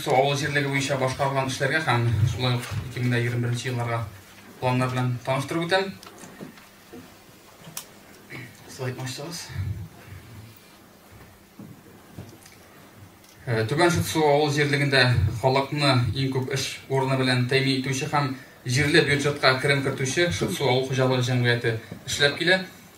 Су авыл җирлеге буенча башкарылган эшләргә һәм шулай ук 2021 елларга планнар белән таныштырып үтәм. Слайд мачтагыз. Э, Түбән Шытсу авыл җирлегендә халыкны иң күп эш урыны белән тәэмин итүче һәм җирле бюджетка керем кертүче Шытсу авыл хуҗалыгы җәмгыяте эшләп килә.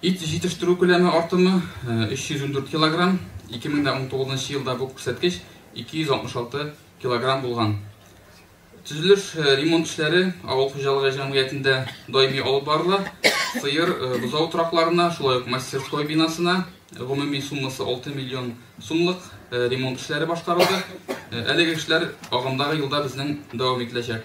Ит җитештерү күләме артымы, 314 килограмм, 2019 елда бу күрсәткеч 266 килограмм булган. Төзелеш, ремонт эшләре авыл хуҗалыгы җәмгыятендә даими алып барыла. Сыер, бозау торакларына, шулай ук мастерской бинасына гомуми суммасы 6 миллион сумлык ремонт эшләре башкарылды. Әлеге эшләр агымдагы елда безнең дәвам ителәчәк.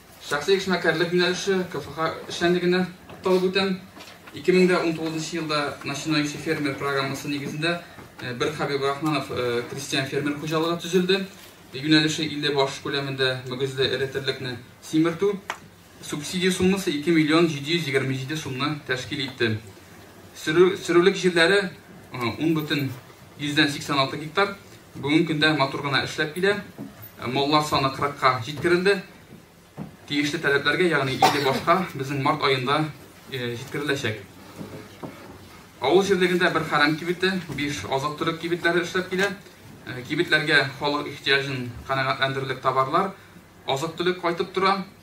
Шәхси эшмәкәрлек юнәлеше КФХ эшчәнлегенә тукталып үтәм. 2019 елда Начинающий фермер программасы нигезендә бер Хәбиб Рахманов крестьян-фермер хуҗалыгы төзелде. Юнәлеше 50 баш күләмендә мөгезле эре терлекне симертү. Субсидия суммасы 2 миллион 727 сумны тәшкил итте. Сөрүлек җирләре 10 бөтен 186 гектар. Бүгенге көндә матур гына эшләп килә. Маллар саны 40-ка җиткерелде. Тиешле таләпләргә, ягъни 50 башка безнең март аенда җиткереләчәк. Авыл җирлегендә бер хәрәм кибете, 5 азык-төлек кибетләре эшләп килә. Кибетләргә халык ихтиҗын канәгатьләндерерлек товарлар, азык-төлек кайтып тора.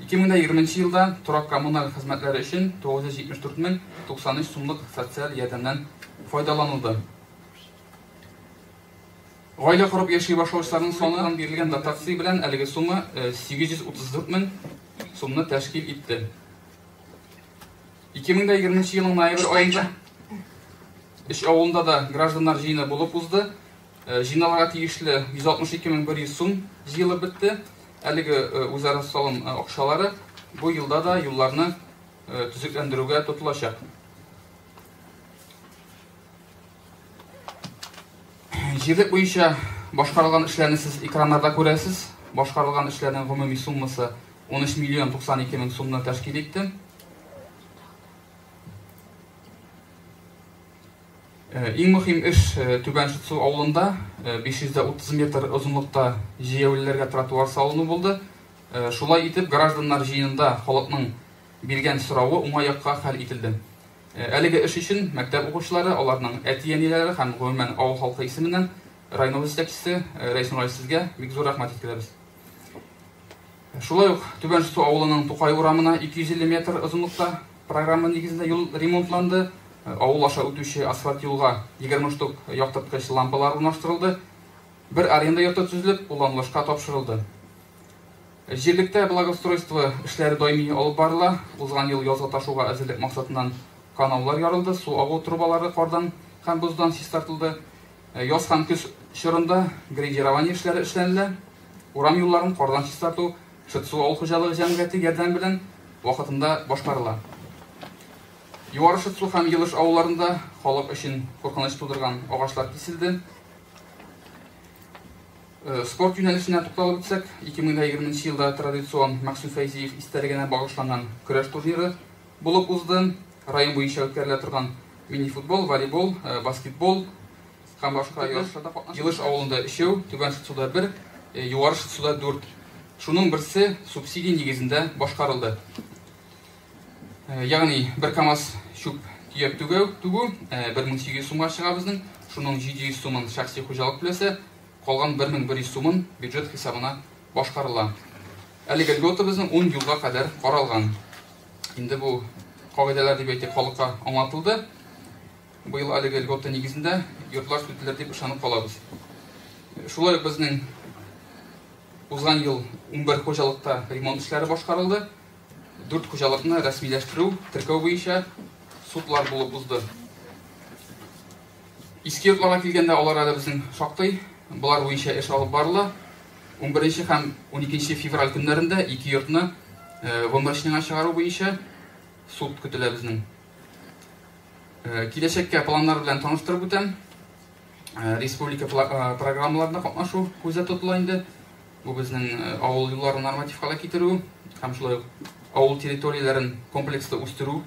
2020 нче елда торак-коммуналь хезмәтләре өчен 974 мең 93 сумлык социаль ярдәмнән файдаланылды. Гаилә корып яши башлаучыларның саныннан бирелгән дотация белән әлеге сумма 834 мең сумны тәшкил итте. 2020 нче елның ноябрь аенда Эш авылында да гражданнар җыены булып узды. Э, җыйналырга тиешле 162100 сум җыелып бетте. Әлеге э, үзара салым э, акчалары бу елда да юлларны төзекләндерүгә тотылачак. Җирлек буенча башкарылган эшләрне сез экраннарда күрәсез. Башкарылган эшләрнең гомуми суммасы 13 миллион 92 мең сумны тәшкил итте. Иң мөһим эш Түбән Шытсу авылында 530 метр озынлыкта җәяүлеләргә тротуар салыну булды. Шулай итеп, гражданнар җыенында халыкның биргән соравы уңай якка хәл ителде. Әлеге эш өчен мәктәп укучылары, аларның әти-әниләре һәм, гомумән, авыл халкы исеменнән районыбыз җитәкчесе Рәис Нургали сезгә бик зур рәхмәт җиткерәбез. Шулай ук Түбән Шысу авылының Тукай урамына 250 метр озынлыкта программа нигезендә юл ремонтланды. Авыл аша үтүче асфальт юлга 20 штук яктырткыч лампалар урнаштырылды. Бер аренда йорты төзелеп, кулланылышка тапшырылды. Җирлектә благоустройство эшләре даими алып барыла. Узган ел язга ташуга әзерлек максатыннан каналлар ярылды, су агу трубалары кардан һәм боздан чистартылды. Яз һәм көз чорында грейдирование эшләре эшләнелә. Урам юлларын кардан чистарту Шытсу авыл хуҗалыгы җәмгыяте ярдәме белән вакытында башкарыла. Югары Шытсу һәм Елыш авылларында халык өчен куркыныч тудырган агачлар киселде. Э, спорт юнәлешенә тукталып үтсәк, 2020 елда традицион Максим Фәйзиев истәлегенә багышланган көрәш турниры Булып узды. Район буенча үткәрелә торган мини-футбол, волейбол, баскетбол һәм башка ярышларда катнашты. Елыш авылында өчәү, Түбән Шытсуда бер, Югары Шытсуда дүрт. Шуның берсе субсидия нигезендә башкарылды. Ягъни бер КАМАЗ чүп төяп түгәү, түгү 1800 сумга чыга безнең, шуның 700 сумын шәхси хуҗалык түләсә, калган 1100 сумын бюджет хисабына башкарыла. Әлеге льгота безнең ун елга кадәр каралган. Инде бу кагыйдәләр дип әйтик халыкка аңлатылды. Быел әлеге льгота нигезендә йортлар сүтелер дип ышанып калабыз. Шулай ук безнең узган ел 11 хуҗалыкта ремонт эшләре башкарылды. 4 хуҗалыкны рәсмиләштерү, теркәү буенча судлар булып узды. Иске йортларга килгәндә, алар әле безнең шактый. Болар буенча эш алып барыла. Унберенче һәм уникенче февраль көннәрендә ике йортны выморочныйга чыгару буенча суд көтелә безнең. Киләчәккә планнар белән таныштырып үтәм. Республика программаларында катнашу күздә тотыла инде. Бу безнең авыл юлларын норматив халә китерү һәм шулай ук авыл территорияләрен комплекслы үстерү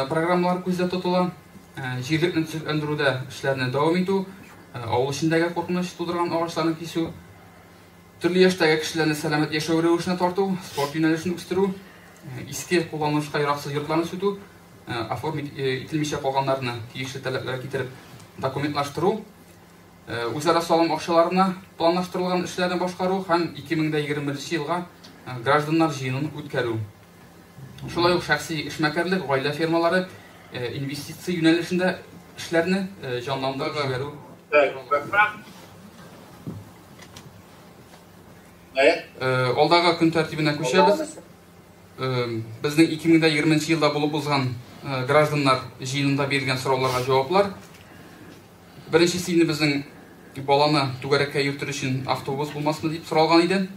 программалары күздә тотыла. Җирлекне төзекләндерүдә эшләрне дәвам итү, авыл эчендәге куркыныч тудырган агачларны кисү, төрле яшьтәге кешеләрне сәламәт яшәү рәвешенә тарту, спорт юнәлешен үстерү, иске кулланылышка яраксыз йортларны сүтү, оформить ителмичә калганнарны тиешле таләпләргә китереп документлаштыру, э, үзара салым акчаларына планлаштырылган эшләрне башкару һәм 2021 елга э, гражданнар җыенын үткәрү. Шулай ук шәхси эшмәкәрлек, гаилә фермалары э, инвестиция юнәлешендә эшләрне җанландырып җибәрү. Алдагы көн тәртибенә күчәбез. Безнең 2020 елда булып узган гражданнар җыенында бирелгән сорауларга җаваплар Беренчесе инде безнең баланы түгәрәккә йөртер өчен автобус булмасмы дип соралган иде.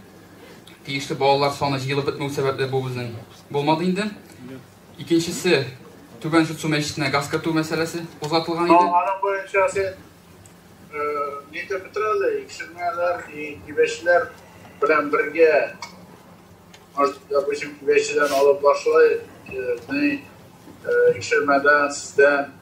Тиешле балалар саны җыелып бетмәү сәбәпле бу безнең булмады инде. Икенчесе Түбән Шутсу мәчетенә газ кертү мәсьәләсе кузгатылган иде. Аның буенча син нидә бетерәле, икшермәләр, кибәчләр белән бергә, может, допустим, кибәчедән алып башлай, икшермәдән, сездән.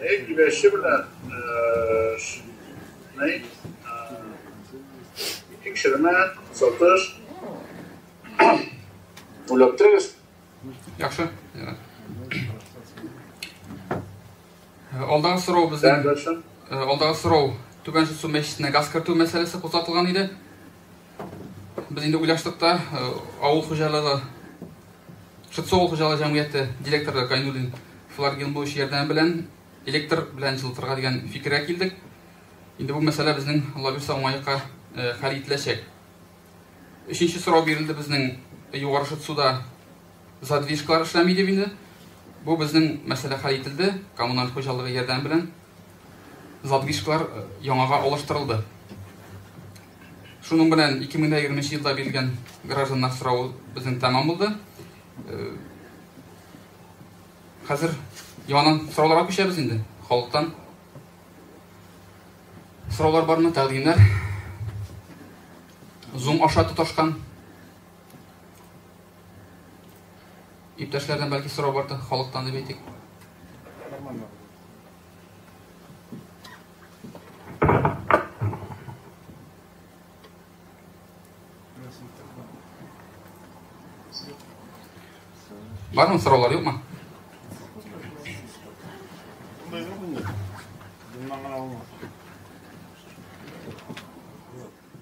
Әйе, киләсе белән тикшермә, сатыш, уйлап торыгыз. Яхшы. Алдағы сорау бездән. Алдағы сорау Түбән Шүсу мәчетенә газ кертү мәсьәләсе кузгатылган иде. Без инде уйлаштык та, авыл хуҗалыгы Шытсу авыл хуҗалыгы җәмгыяте директоры Гайнуллин Флар Гилмович ярдәме белән электр белән җылытырга дигән фикергә килдек. Инде бу мәсьәлә безнең лабирса уңаекка э, хәл ителәчәк. Өченче сорау бирелде безнең югары Шытсуда задвижкалар эшләми дип инде. Бу безнең мәсьәлә хәл ителде, коммуналь хуҗалыгы ярдәме белән Задвижкалар яңага алыштырылды. Шуның белән 2020 елда бирелгән гражданнар сорау безнең тәмам булды. Хәзер яңадан сорауларга күчәбез инде халыктан. Сораулар бармы, тәкъдимнәр? Zoom аша тоташкан Иптәшләрдән бәлки сорау бардыр, халыктан дип әйтик. Бармы сораулар, юкмы?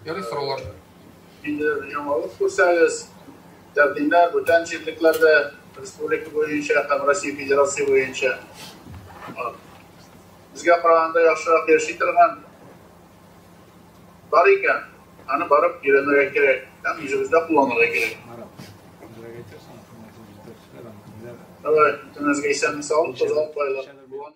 Ярый сораулар. Инде яңалык күрсәгез, тәкъдимнәр бүтән җирлекләрдә республика буенча һәм Россия Федерация буенча безгә караганда яхшырак яши торган бар икән, аны барып өйрәнергә кирәк һәм үзебездә кулланырга кирәк. Давай, бүтәнегезгә исәнлек-саулык, зал байлар.